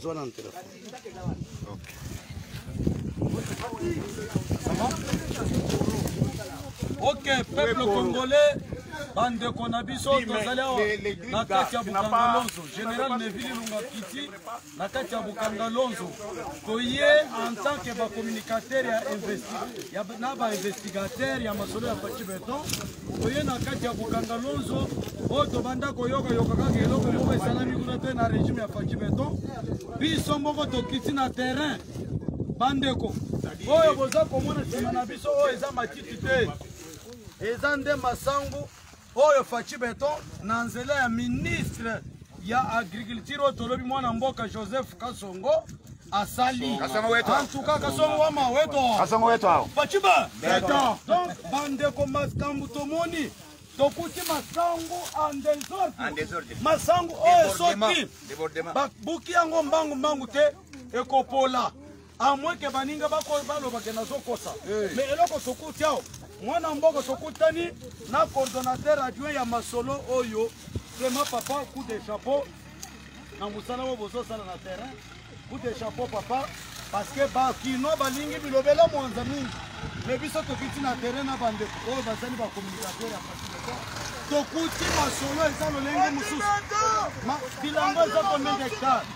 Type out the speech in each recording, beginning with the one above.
zwa nanu telefone ok peuple congolais bandeko na biso tozali awa na kati ya bukanga lonzo général nevili lunga kiti na kati ya bukanga lonzo toye en tant que bacommunicateur ya na bainvestigateur ya masolo ya paci beton oye na kati ya kokanga lonzo oyo tobanda koyoka yoka kaka eloko moko esalami kuna te na regime ya faki beton biso moko tokiti na terrain bandeko oyo boza komona nsima na biso oyo eza matiti te eza nde masangu oyo faci beton na nzela ya ministre ya agriculture oyo tolobi mwana mboka joseph kasongo asali antuka kasongo wa maweto baciba donc bandeko makambo tomoni tokuti masango en desordre masango oyo esoki babuki yango mbangu mbangu te ekopola A moins que baninga bako baloba ke nazokosa. Eh. Mais eloko sokuti awa mwana mboka sokutani na coordonnateur adjoint ya masolo oyo vraiment papa coup de chapeau na mosala oyo bozosala na terrain coup de chapeau papa parce que bakinois balingi bilobela mwanza mingi me biso tokiti na terrain na bandeko oyo bazali bacommunicateur ya fasilita tokuti masolo eza lolenge mosusu bilanga eza combien d'hectare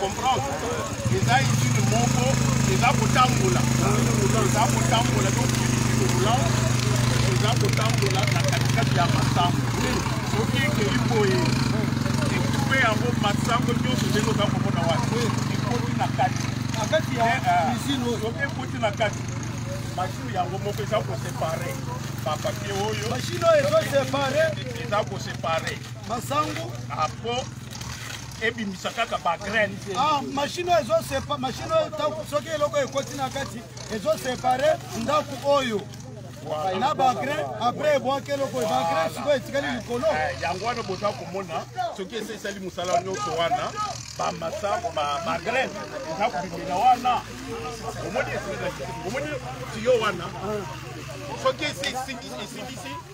comprendre eza izine moko eza kotambola eza kotambola dokiilola eza kotambola na katikati ya masango soki ekei boye ekupe yango masango nyonso ndenge oza komona wapi ekoti na kati soki ekoti na kati mashine yango moko eza kosepare bapapie oyo mashine oyo ezosepare eza kosepare masango apo ebimisa kaka bagraine ah, mashine oyo ezosepa mashine oyo soki eloko ekoti na kati ezosepare ndako oyo na bagrain apres ebwaki eloko bagrain sikoyo etikali likolo eh, yango wana boza komona soki esi esali mosala nyonso wana bamasa bagrain eza kobimela wana omoni omoni tiyo wana soki esi esilisi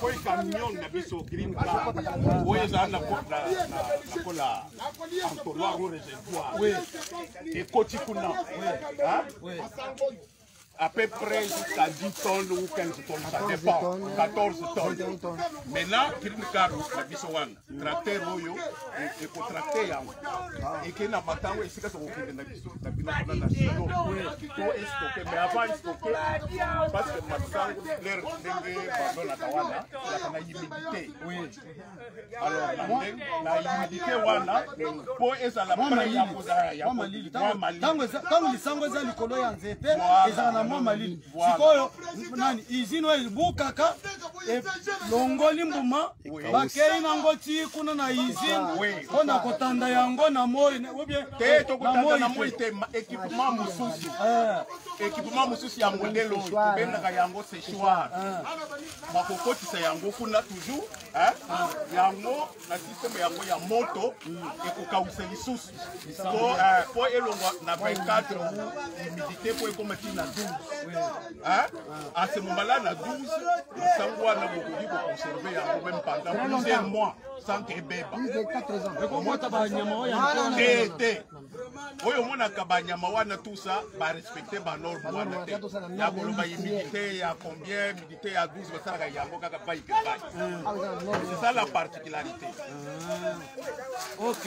koi camion na biso green car oyo eza na kola entonnoir ou réservoir ekoti kuna à peu près jusqu'à 10 tonnes ou 15 tonnes, ça dépend, 14 tonnes. Maintenant, green car na biso wana tracteur oyo ekotracte yango eke na matango esika tokokende na biso na bino kuna na sino to estoke mais avant estoke parce que masango claire ndenge bazolaka wana elaka na humidité alors na humidité wana mpo ezala prêt ya kozala ya ntango lisango eza likolo ya nzete ezala na mwa malili sikoyo nani izini oyo ebukaka elongoli mbuma bakei nango ti kuna na izini mpo na kotanda yango na moi te tokotanda na moi te ekipema mosusu ekipema eh. mosusu ya modele oyo tobengaka yango sechoir eh. bakokotisa yango kuna toujours eh. yango na systeme yango ya moto ekokausa lisusu po eh, po elongwa na 24 humidité po ekoma ti na 12 eh? ase mombala na 12 sango wana bokoki koconserve yango meme pendant plusieurs mois sans que ebeba te te oyo omonaka banyama wana tusa barespecte banorme wana te ya koloba humidité ya combien te ya 12 basalaka yango kaka bai ke bai c'est ça la particularité ah. ok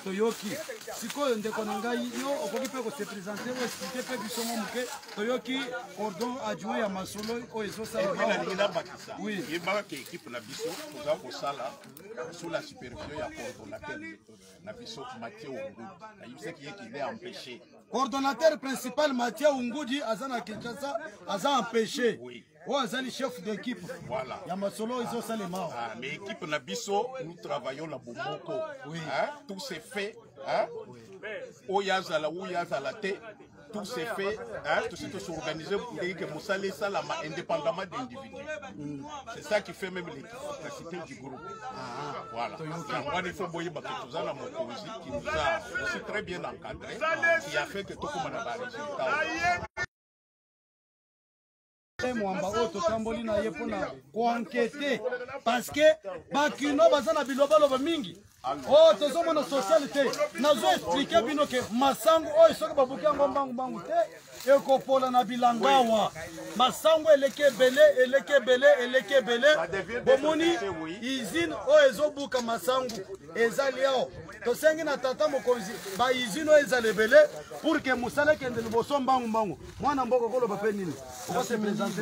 toyoki sikoyo ndeko na ngai yo okoki mpe kosepresente oyo esplike mpe biso mwa moke toyoki cordon adjoint ya masolo oyo ezosalaelingi nabakisa yebaka ke ekipe na biso toza kosala sous la supervision ya coordonnateur na biso mathieu ongudu nayebisaki ye kinde empêche Coordonnateur principal Mathieu Ungudi aza na Kinshasa, aza empêché. Oui. oyo azali chef d'équipe voilà. ya masolo ezosalema ah, mais équipe na biso nous travaillons na bomoko oui. hein? tout se fait hein? oui. oyo azala oyo azala te tout se fait hein, tout suite s'organiser pour que Moussa laisse la indépendamment d'individus. Mm. C'est ça qui fait même les capacité du groupe. Ah, voilà. Yango il faut boyeba que toza na mokonzi qui nous a aussi très bien encadré qui a fait que tokoma na ba résultats. mwamba oyo totamboli na ye mpo na koankete parceke bakino baza na bilobaloba mingi Oh, tozomona sociale te nazo explike bino ke masangu oyo soki babuki yango mbangumbangu te ekopola na bilangawa masangu eleki ebele eleki ebele eleki ebele bomoni izine oyo ezobuka masangu ezali awa tosengi na tata mokonzi baizine oyo ezala ebele pour ke mosala ekende liboso mbangu mbangu mwana mboka okoloba mpe nini okosepresente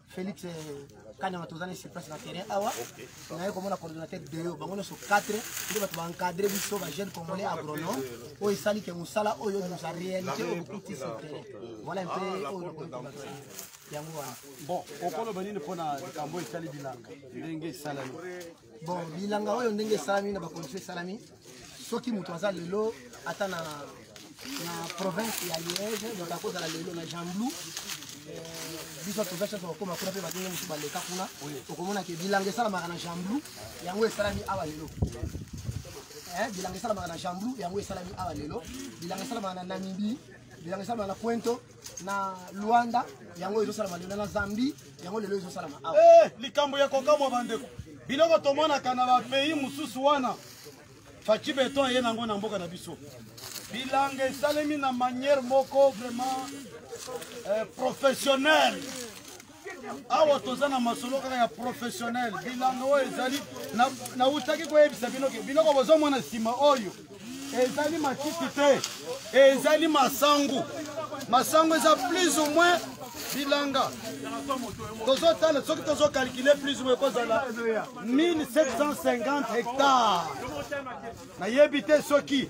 Felix eh, Kanyama toza na surprise na terrain awa naye komona coordonnateur deyo bango nyonso 4 nde bato baencadre biso bajeune congolais agronome oyo esali ke mosala oyo nous a réalité oyo bokuti sur terrain voilà mpe ah, oyo yango wana bon okoloba nini mpo na likambo oyo etali bilanga ndenge esalami bon bilanga oyo ndenge esalami na bakondition esalami soki moto aza lelo ata na na province ya liege donc akozala lelo na jean blou eh, biso toza chance kokoma kuna mpe badenge mosusu baleka kuna okomona ke bilanga esalamaka na jean blou yango esalami awa lelo eh, bilanga esalamaka na jean blou yango esalami awa lelo bilanga esalamaka na namibie bilanga esalamaka na cuento na luanda yango ezosalama lelo na zambie yango lelo ezosalama awa eh, likambo ya kokamwa bandeko biloko tomonaka na bapays mosusu wana faci beton eye nango na mboka na biso bilanga esalemi na manière moko vraiment eh, professionnel awa toza na masolo kaka ya professionnel bilanga oyo ezali nautaki koyebisa bino ke biloko bozomona nsima oyo ezali matiti te ezali masangu masangu eza plus ou moins bilanga tozotala soki tozokalkile plus ou moins ekozala 1750 hectare nayebi te soki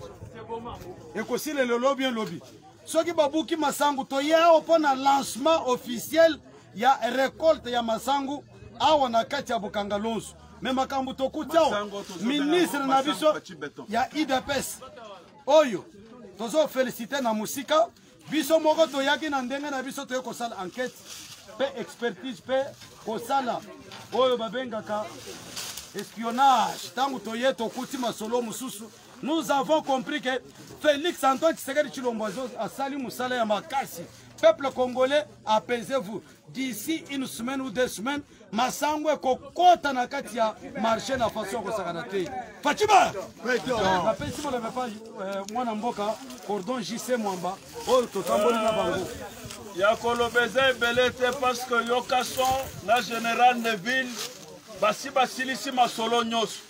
ekosila lelo bien lobi soki babuki masangu toye awa mpo na lancement officiel ya recolte ya masangu awa na kati ya bokanga lonso me makambo tokuti awa ministre na biso ya idps oyo tozofelisite na mosika biso moko toyaki na ndenge na biso toye kosala enquete mpe expertise mpe kosala oyo babengaka espionnage ntango toye tokuti masolo mosusu Nous avons compris que Félix Antoine Tshisekedi Chilombo asali musala ya makasi. Peuple congolais, apaisez-vous. D'ici une semaine ou deux semaines, masango ekokota na kati ya marché na façon ya kosakana te. Fatima! Napesi bana mepa euh, mwana mboka cordon JC Mwamba oyo totamboli na bango. Ya koloba eza ebele te parce que yoka son na général Neville basi basilisi masolo nyonso.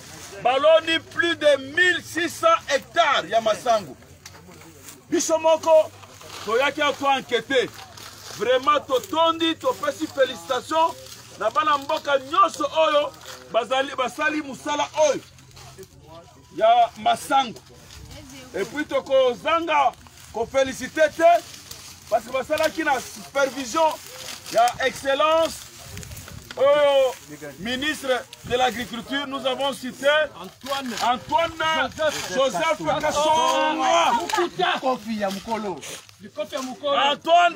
baloni plus de 1600 hectares ya masangu biso moko toyaki ako ankete vraiment totondi topesi félicitation na bana mboka nyonso oyo bazali basali mosala oyo ya masangu epuis tokozanga kofelisite te parce que basalaki na supervision ya excellence oyo ministre de l'agriculture nous avons cité antoine, antoine joseph, joseph kasonga kofi ya mokolo antoine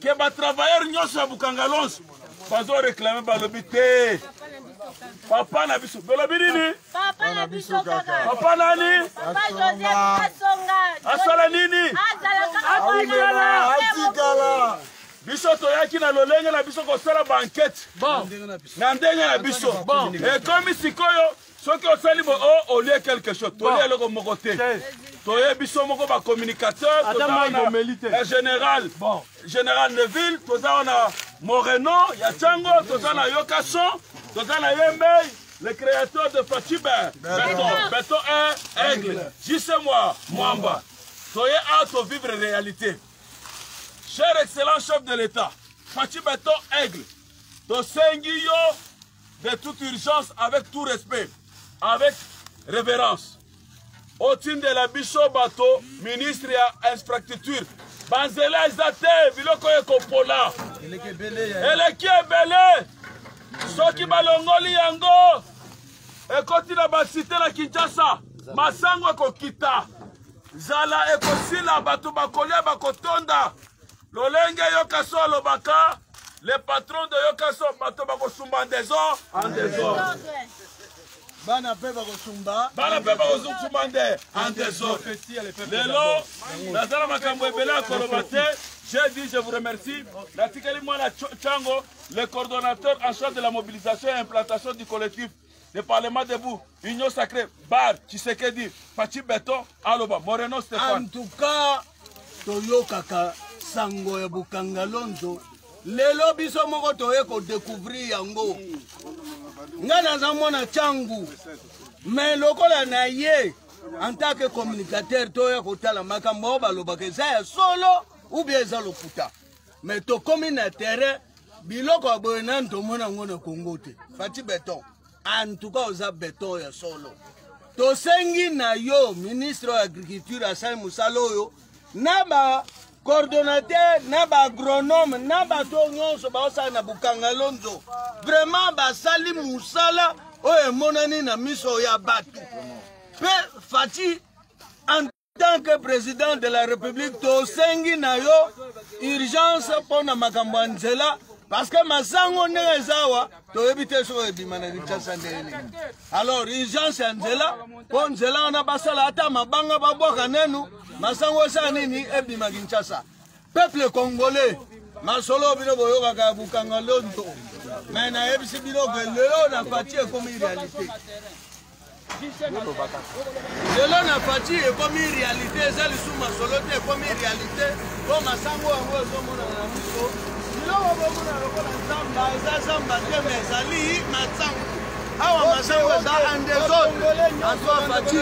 ke ba travailleur nyonso ya bukangalons bazo reklame balobi te papa na biso bolobi nini papa na biso kaka papa nani papa joseph asonga asala nini azalaka atikala biso toyaki na lolenge na biso kosala bankete na ndenge na biso ekomi sikoyo soki osali bo o oh, olie quelque chose tolie eloko moko te toye biso moko bacommunicateur ya général général de ville toza wana moreno ya cango toza na yo kason toza na ye mbei le créateur de fatiba beton beton e aigle jise mwa mwamba toye a tovivre réalité cher excellent chef de l'état fatiba to aigle tosengi yo de toute urgence avec tout respect avec révérence otindela biso bato ministre ya infrastructure banzela eza te biloko ekopola eleki ebele soki balongoli yango ekoti na basite na kinshasa masango ekokita zala ekosila bato bakolia bakotonda lolenge yoka so alobaka le patron de yoka so bato bakosumba ndezo en desordre bana mpe bakosumba bana mpe bakosumba nde en desordre lelo naza na makambo ebele ya koloba te j'ai dit je vous remercie natikeli mwana chango le coordonnateur en charge de la mobilisation et implantation du collectif le parlement debout union sacré bar tshisekedi faci beton aloba moreno stefan en tout cas toyokaka sango ya bokanga lonzo lelo biso moko toye kodekouvrir yango ngai naza mwana cangu me lokola na ye en tant que communicateur toya kotala makambo oyo balobaka eza ya solo ou bien eza lokuta mais tokomi na terrain biloko ya boye nani tomona yango na kongo te fati beton antuka oza beton ya solo tosengi na yo ministre ya agriculture asali mosala oyo na ba coordonnateur na baagronome na bato oyo nyonso baosala na bukangalonzo vraiment basali mosala oyo emonani na miso ya bato mpe fati tant que président de la république tosengi na yo urgence mpo na makambo ya nzela parce que masango ndenge eza awa toyebi te soki ebima na kinshasa ndenge nini alors urgence ya nzela mpo nzela wana basala ata mabanga babwaka nenu masango esala nini ebima kinshasa peuple congolais masolo bino boyokaka ya bukanga lonto me nayebisi bino ke lelo na fati ekomi realite lelo na fati ekomi réalité eza lisusu masolo te ekomi réalité mpo masango yango ezomonana na miso biloko bomona lokola zamba eza zamba te ma ezali masango awa masango eza andesode azwa fati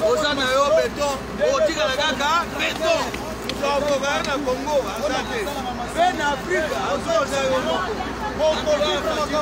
oza na yo beton otikala kaka beton tokokaka na congo aza te mpe na afrika azoza yo moko okoki koloba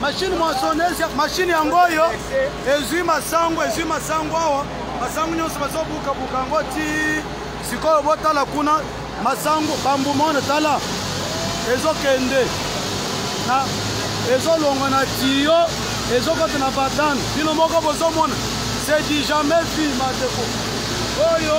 mashine moissonneuse mashine yango oyo ezwi masango ezwi masango awa masango nyonso bazobukabuka yango ti sikoyo botala kuna masango bambumone tala ezokende na ezolongwa na tiyo ezokota na badane bino moko bozomona c'est du jamais vu mateko oyo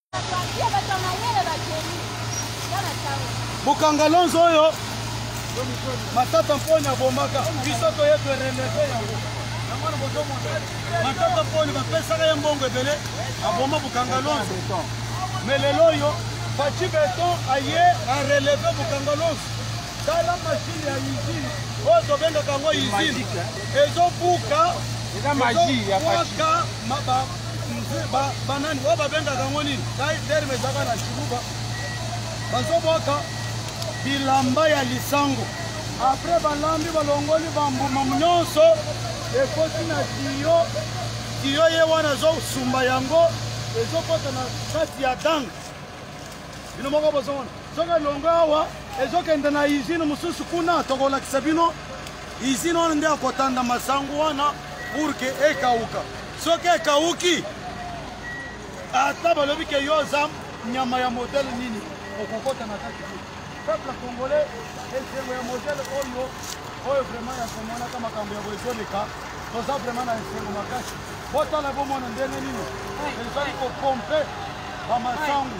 bokanga lonzo oyo matata mponi abomaka biso toye toremercie yango matata mponi bapesaka ye mbongo ebele aboma bokanga lonzo me lelo oyo faci beton aye areleve bokanga lonzo tala mashine ya usine oyo tobengaka yango usine ezobuka eza magie ya faci banani oyo babengaka yango nini terme ezaka na shiruba bazobwaka bilamba ya lisango apres balambi balongoli bambuma nyonso ekoti na tiyo tiyo ye wana ezosumba yango ezokota na kati ya dange bino moko bozomona soki elongo awa ezokende na izine mosusu kuna tokolakisa bino izine wana nde akotanda masango wana purke ekauka soki ekawuki ata balobi ke yo oza nyama ya modele nini okokota na kati te peuple congolais esengo ya modele oyo oyo vraiment ya komonaka makambo ya boezoleka toza vraiment na esengo makasi botala bomona ndenge nini ezali kopompe bamasangu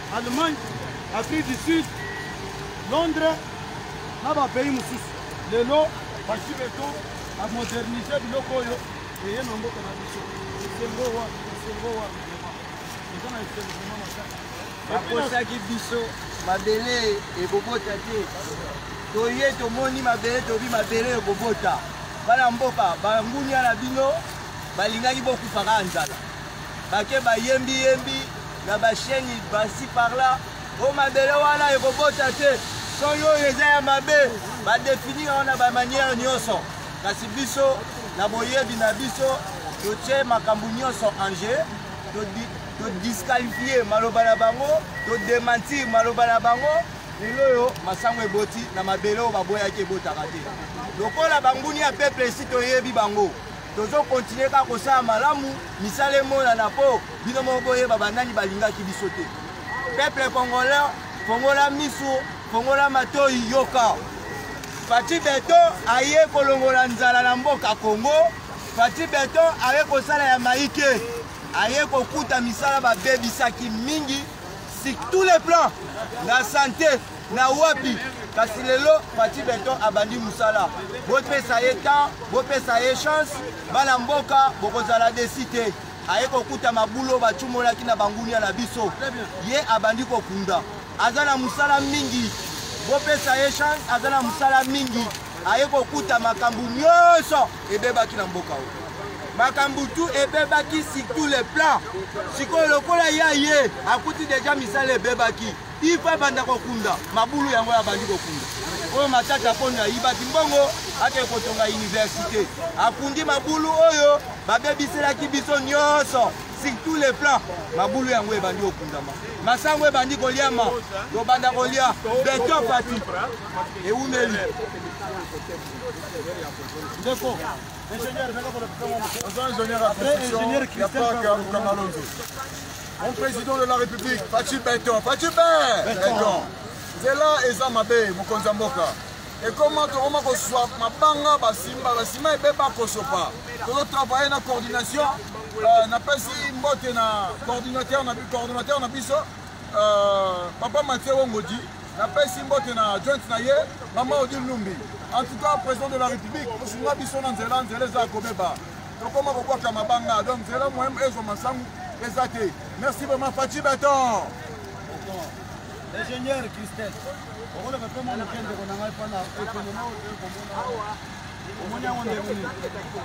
Allemagne, Afrique du Sud, Londres, na ba pays mosusu. Lelo basi beto a moderniser biloko oyo eye na mboka na biso. Esengo wa, esengo wa. Eza na esengo vraiment makasi. Bakosaki biso mabele ekobota te. Toye tomoni mabele tobi mabele ekobota. Bana mboka bangunia na bino balingaki bokufa kaka nzala. Bake bayembi yembi na ba chaîne basi par là o mabele wana ekobota te soni oyo eza ya mabe badefinir yango na bamanière nyonso kasi biso na boyebi na biso totye makambo nyonso en jeu todisqualifie maloba na bango todementir maloba na bango lelo oyo masango eboti na mabele oyo baboyaki ebotaka te lokola banguni ya peuple esi toyebi bango tozo continuer kaka kosala malamu misala emonana mpo bino moko boyeba banani balingaki biso te peuple congolais fongola miso fongola matoi yoka fati beton aye kolongola nzala na mboka congo fati beton aye kosala ya maike aye kokuta misala babebisaki mingi sur tous les plans na santé na wapi kasi lelo pati beton abandi mosala bopesa ye temps bopesa ye chance bana mboka bokozala desi te aye kokuta mabulo bacumolaki na bangunia na biso ye abandi kokunda aza na mosala mingi bopesa ye chance aza na mosala mingi aye kokuta makambo nyonso ebebaki na mboka oyo makambo tu ebebaki sur tous les plans sikoyo lokola ye aye akuti deja misala ebebaki ifa banda kokunda mabulu yango yabandi kokunda oyo matata mpono ayibaki mbongo akei kotonga université akundi mabulu oyo babebiselaki biso nyonso sur tous les plans mabulu yango ebandi kokundama masango ebandi koliama tobanda kolia beton pati ewumeli ndeko ingénieur nanga pona oza ingénieur ya construction ya parc ya mokanga lonzo mon président de la république faci beton faci be beton nzela eza mabe mokonzi ya mboka ekoma tokoma koswa mabanga basimba basima ebeba kosopa tozotravaille na coordination euh, napesi mbote na coordinateur na biso euh, papa matie wongodi napesi mbote na joint na ye mama odile numbi en tout cas président de la république osunga biso na nzela nzela eza ya kobeba tokoma kobwaka mabanga donc nzela moyen ezwa masangu eza te merci vraiment faci beton ingénieur christel okoloba mpe mwa moke ndeko na ngai mpo na ekonoma okomona omoni yango ndenge nini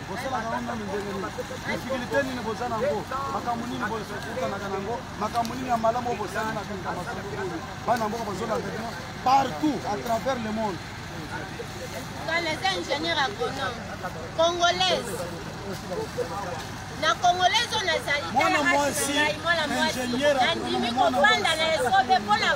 bosalaka yango nanu ndenge nini difikulté nini boza na yango makambo nini bokutanaka na yango makambo nini ya malamu oyo bosali na kati ya masolo oyo bana mboka bazolanda bino partout à travers le monde naza ingénieur agronome congolaise na congolaise oyo nazali mwana mwasi nandimi kofanda na esobe mpona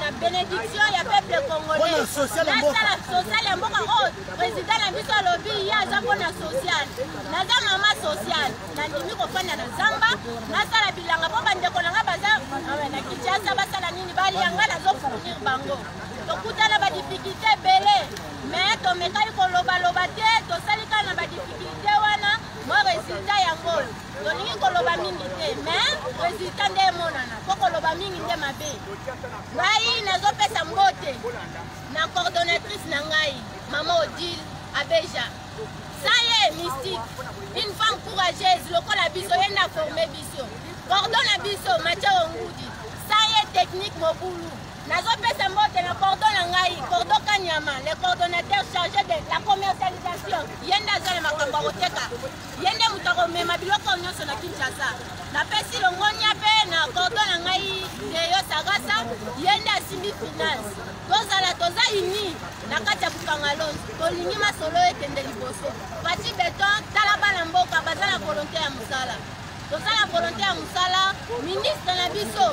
na bénédiction ya peuple congolais nasala social ya mboka oyo oh, président na biso alobi ye aza mpona social naza mama social nandimi kofanda na zamba nasala bilanga mpo bandeko na ngai baza ah na kinshasa basala nini balia ngai nazofournir bango tokutana badifikulte ebele me tomekaki kolobaloba te tosali kaka na badifikulte wana mwa resultat yango oyo tolingi koloba mingi te me resultat nde emonana mpo koloba mingi nde mabe ngai nazopesa mbote na coordonnatrice na ngai mama odile abeja Saye mystique, une femme courageuse, lokola biso, ye na forme biso. Cordon na biso, Mathieu Ngudi. Saye technique mobulu. nazopesa mbote na cordo na ngai cordo kanyama le coordonnateur chargé de la commercialisation ye nde aza na makambo ya koteka ye nde moto akomema biloko nyonso na kinshasa napesi longonia mpe na cordo na ngai deyo sagasa ye nde asimbi finance tozala toza ini na kati ya bukangalon tolingi masolo ekende liboso pati beton tala bana mboka baza na volonte ya mosala toza na volonte ya mosala ministre na biso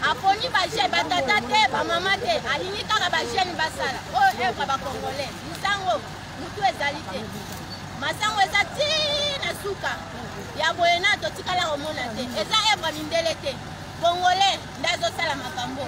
aponi baje batata te bamama te alingi kaka bajeune basala oyo oh, evre bacongolais misango motu ezali te masango eza ti na suka ya boye na totikala komona te eza evre mindele te congolais nde azosala makambo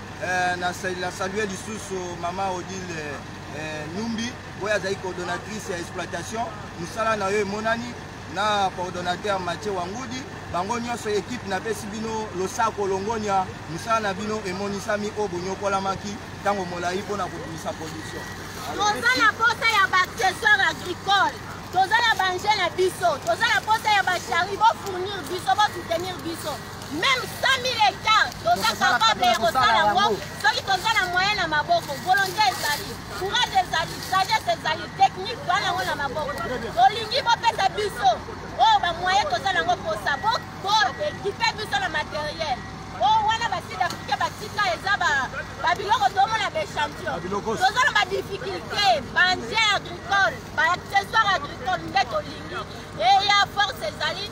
Eh, na salue lisusu mama odile eh, numbi oyo azali coordonnatrice ya exploitation mosala na yo emonani na coordonnateur mathieu wangudi bango nyonso ekipe napesi bino losako longonya mosala na bino emonisami oyo bonyokolamaki ntango molai mpo na kobimisa production toza na posa ya baaccessoire agricole toza na banje na biso toza na posa ya bashari bofournir biso bosoutenir biso meme 100000 hectare toza capable ya kosala yango soki toza na moyen na maboko volonté ezali courage ezali sagesse ezali technique toa nango na maboko tolingi bopesa biso oyo bamoyen toza nango mposa boekipe biso na materiel oyo wana basud africain batika eza babiloko tomona baechantion toza na badifficulté banje agricole baaccessoire agricole nde tolingi eya force ezali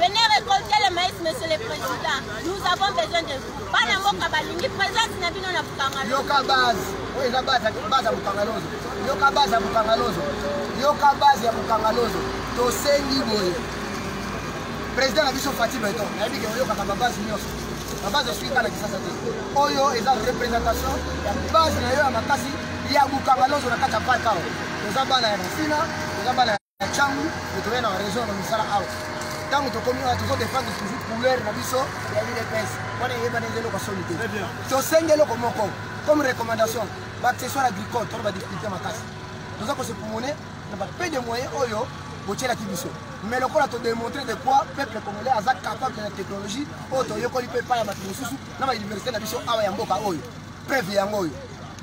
Venez récolter le maïs, monsieur le président. Nous avons besoin de vous. Bana mboka balingi présence na bino na Bukangalozo. Yoka base. Oyo eza base base ya Bukangalozo. Yoka base ya Bukangalozo. Yoka base ya Bukangalozo. Tosengi boye. Président na biso Fatih Beton. Nayebi ke oyokaka ba base nyonso. Ba base eswi kala kisasa te. Oyo eza représentation ya base na yo ya makasi ya Bukangalozo na kati ya parc awa. Toza bana ya Masina, toza bana ya na ntango totoyei na raison na misala awa ntango tokomi awa tozodefendre toujours couleur na biso ya udps wana eyebana eza eloko soni te tosengi eloko moko comme recommandation baaccessoire agricole tona badifficulté makasi toza kosepumone na bape de moyen oyo botyelaki biso mais lokola todemontre de quoi peuple congolais aza capable na technologie oyo toyekoli mpe epai ya bato mosusu na bauniversité na biso awa ya mboka oyo preuve yango oyo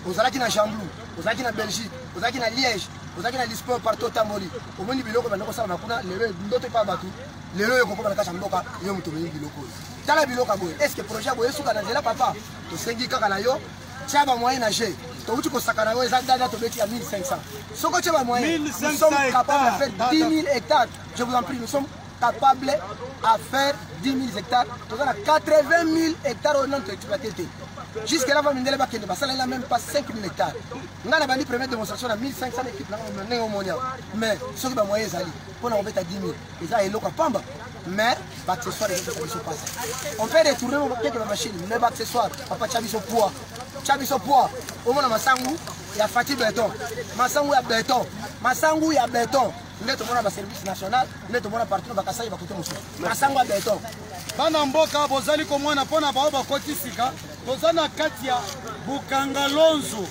ozalaki na jamblou ozalaki na belgique ozalaki na liège ozalaki na lisport partout otamboli omoni biloko banda kosalama kuna lelo ndoto epa bato lelo oyo kokoma na kati ya mboka yo moto omemi biloko oyo tala biloko ya boye est ce que projet ya boye esuka na nzela papa tosengi kaka na yo tya bamoyen na jeu towuti kosakana yango eza dada tobeti ya 1500 soki otye bamoyen nous sommes capable de faire 10 000 hectares je vous en prie nous sommes capable à faire 10 000 hectares toza na 80 000 hectares oyo nano toexploite te jusque là va mindele bakende basalela même pas 5 000 hectares ngai nabandi première démonstration na 1500 équipe nanga ndenge omoni awa mais soki bamoyen ezali mpo na kobeta 10 000 eza eloko ya pamba mais baaccessoire ezopesa biso pasi on peut retourne keke bamachine mais baaccessoire papa tya biso poids tya biso poids omona masangu ya fati beton masangu ya beton masangu ya beton nde tomona baservice national nde tomona partout na bakasai bakote mosusu masango ya beton bana mboka bozali komona mpo na baoyo bakoti sika toza na kati ya bukanga lonzo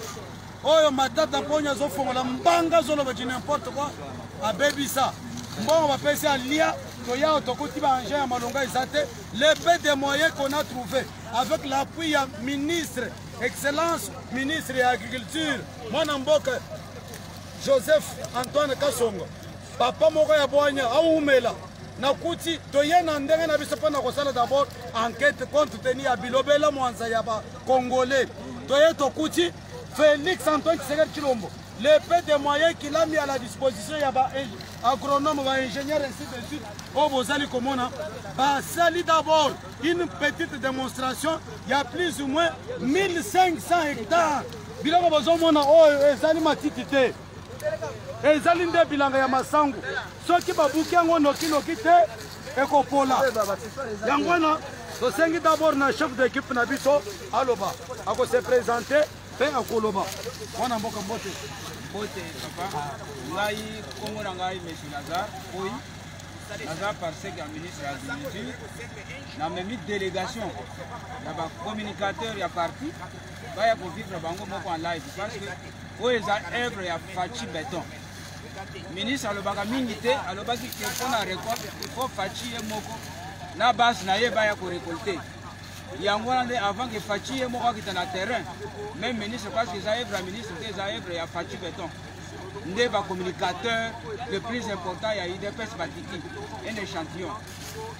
oyo matata mponi azofongola mbanga azoloba di nimporte koi abebisa mbongo bapesi alia toyao tokoti baengin ya malonga eza te le peu de moyen qu'on a trouvé avec l'appui ya ministre excellence ministre ya agriculture mwana mboka joseph antoine kasongo papa moko ya bwanya awumela nakuti toye na ndenge na biso mpo na kosala dabord enquête compte teni ya bilobela mwanza ya bacongolais toye tokuti félix antoine tshisekedi tshilombo le peu de moyen qu'il a mis à la disposition ya baagronome baingénieur ainsi de suite oyo oh, bozali komona basali d'abord une petite démonstration ya plus ou moins 1500 hectares biloko bozomona oyo ezali matiti te ezali nde bilanga ya masangu soki babuki yango nokinoki te ekopola yango wana tosengi dabord na chef de équipe na biso aloba akose présente mpe akoloba mwana mboka mbote mbote papa ngai nkombo na ngai monsieur lazar oyi naza parsec ya ministre ya agriculture namemi délégation ya bacommunicateur ya parti baya kovivre bango moko en live parce que oyo eza œuvre ya faci beton ministre alobaka mingi te alobaki ke mpo na récolte il faut faci ye moko na base na ye baya korecolte yango wana nde avant ke faci ye moko akita na terrain même ministre parce que eza œuvre ya ministre te eza œuvre ya faci beton nde bacommunicateur le plus important ya udps batiki un échantillon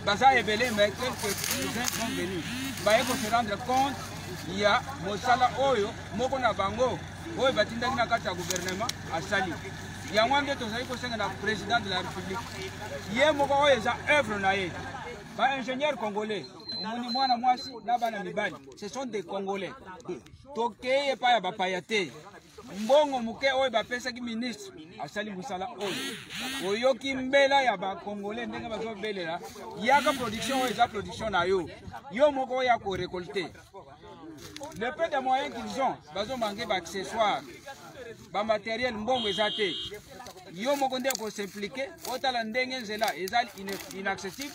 baza ebele mais quelques uns sont venus baye ko se rendre compte ya mosala oyo moko na bango oyo batindaki na kati ya guvernema asali yango ande tozali kosenga na président de la république ye moko oyo eza œuvre na ye baingénieur congolais omoni mwana mwasi na bana mibali ce sont des congolais tokei epai ya bapaya te mbongo moke oyo bapesaki ministre asali mosala oyo oyoki mbela ya bakongole ndenge bazobelela yaka production oyo eza production na yo yo moko oya korekolte le peu de moyen qu'ils ont bazomange baaccessoire bamateriel mbongo eza te yo moko nde okosimplike otala ndenge nzela eza inaccessible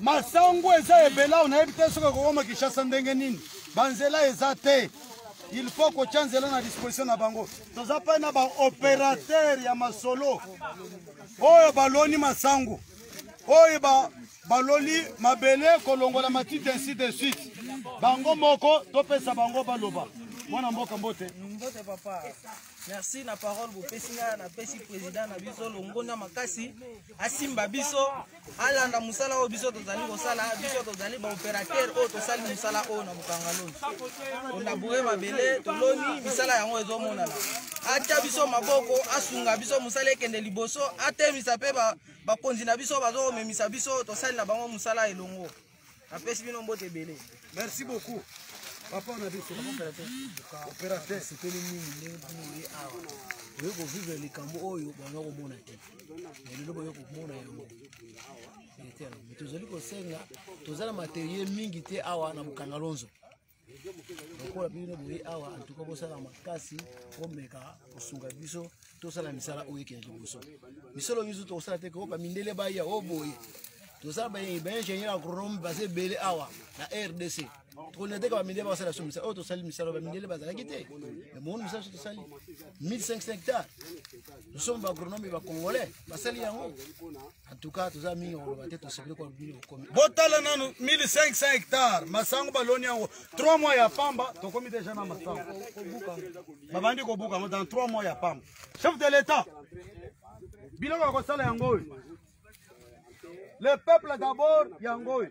masangu eza ebela onayebi te soki ekokoma kinshasa ndenge nini banzela eza te il faut kotya nzela na disposition na bango toza mpe na baopérateur ya masolo oyo baloni masangu oyo ba, baloli mabele kolongola matiti ainsi de suite bango moko topesa bango baloba mwana mboka mbote mbote papa merci na parole bopesi ngai napesi président na biso longonya makasi asimba biso alanda mosala oyo biso tozali kosala biso tozali baopérateur oyo tosali mosala oyo na bokangaloni olaboure mabele toloni misala yango ezomonana atya biso maboko asunga biso mosala ekende liboso atemisa mpe bakonzi na biso bazokomemisa biso tosali na bango mosala elongo napesi bino mbote ebele merci beaucoup papa na biso opérateur sepeli mingi ndenge bino oye awa oye kovivre likambo oyo banga komona te lelo boye komona yango tozali kosenga toza na materiel mingi te awa na bokangalonzo lokola bino boye awa antuka bosala makasi bomeka kosunga biso tosala misala oyo ekende liboso misolo misu tokosala te koyoka mindele baya o boye toza baingénieur agronome baza ebele awa na rdc tokolinga te ka bamindele bakosala biso misala oyo tosali misala bamindele bazalaki te emoni misala biso tosali 1500 hectare nous sommes baagronome ya bacongolais basali yango En tout cas, toza mingi koloba te tosepeli koloba bino bokomi. Botala nanu 1500 hectares masango baloni yango 3 mois ya pamba tokomi deja na masango. Babandi kobuka yango dans 3 mois ya pamba. Chef de l'État biloko ya kosala yango oyo le peuple d'abord yango oyo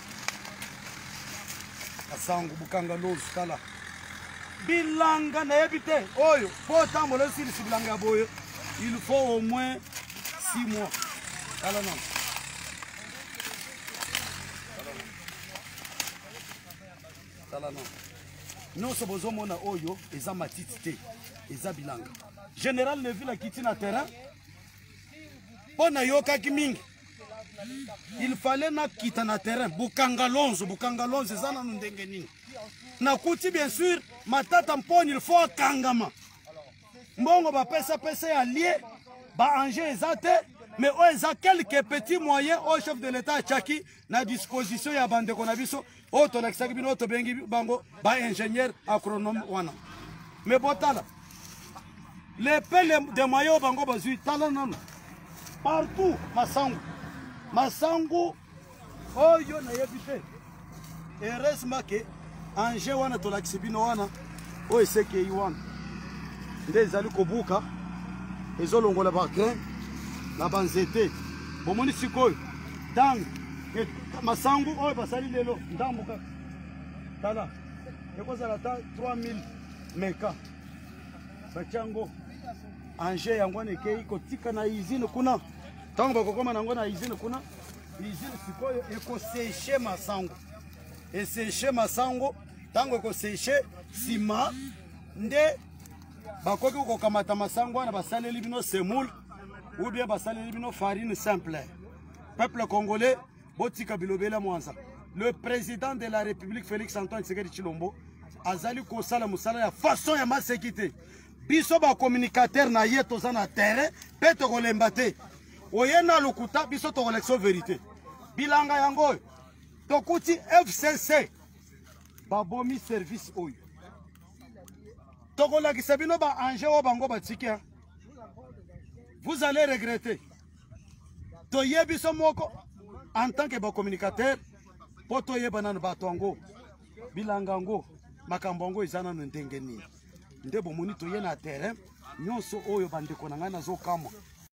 kasangu bukanga lozu tala bilanga nayebi te oyo mpo otambola esilisi bilanga ya boye il faut au moins 6 mois tala nano tala nano nyonso bozomona oyo eza matiti te eza bilanga général neville akiti na terrain mpo nayokaki mingi il fallait nakita na terrain bokanga lonzo bokanga lonzo eza nanu ndenge nini nakuti bien sûr matata mponi il faut akangama mbongo bapesapesa ya lie baange eza te mais oyo eza quelque petit moyen oyo chef de l'état atyaki na disposition ya bandeko na biso oyo tolakisaki bino oyo tobengi bango baingénieur agronome wana me botala lepele de moye oyo bango bazwi tala nano partout masangu masangu oyo nayebi te heureusement ke ange wana tolakisi bino wana oyo esekei wana nde ezali kobuka ezolongola bagrain na banzete bomoni sikoyo ntango masangu oyo basali lelo ndambo kaka tala ekozala ata 3000 meka batya yango ange yango wana ekei kotika na izine kuna ntango bakokoma na yango na izine kuna izine sikoyo ekoseshe masango eseshe masango ntango ekoseshe nsima nde bakoki kokamata masango wana basaleli bino semoule ou bien basaleli bino farine simple peuple congolais botika bilobela mwanza le président de la république félix antoine tshisekedi tshilombo azali kosala mosala ya façon ya maseki te biso bacommunicateur na ye toza na terrain mpe tokolemba te oye na lokuta biso tokolekisa verité bilanga yango oyo tokuti fcc babomi service oyo tokolakisa bino ba ange oyo bango batiki vous allez regretter toye biso moko en tant que bacommunicateur mpo toyeba nano bato yango bilanga yango makambo yango eza nano ndenge nini nde bomoni toye na terrain nyonso oyo bandeko na ngai nazokamwa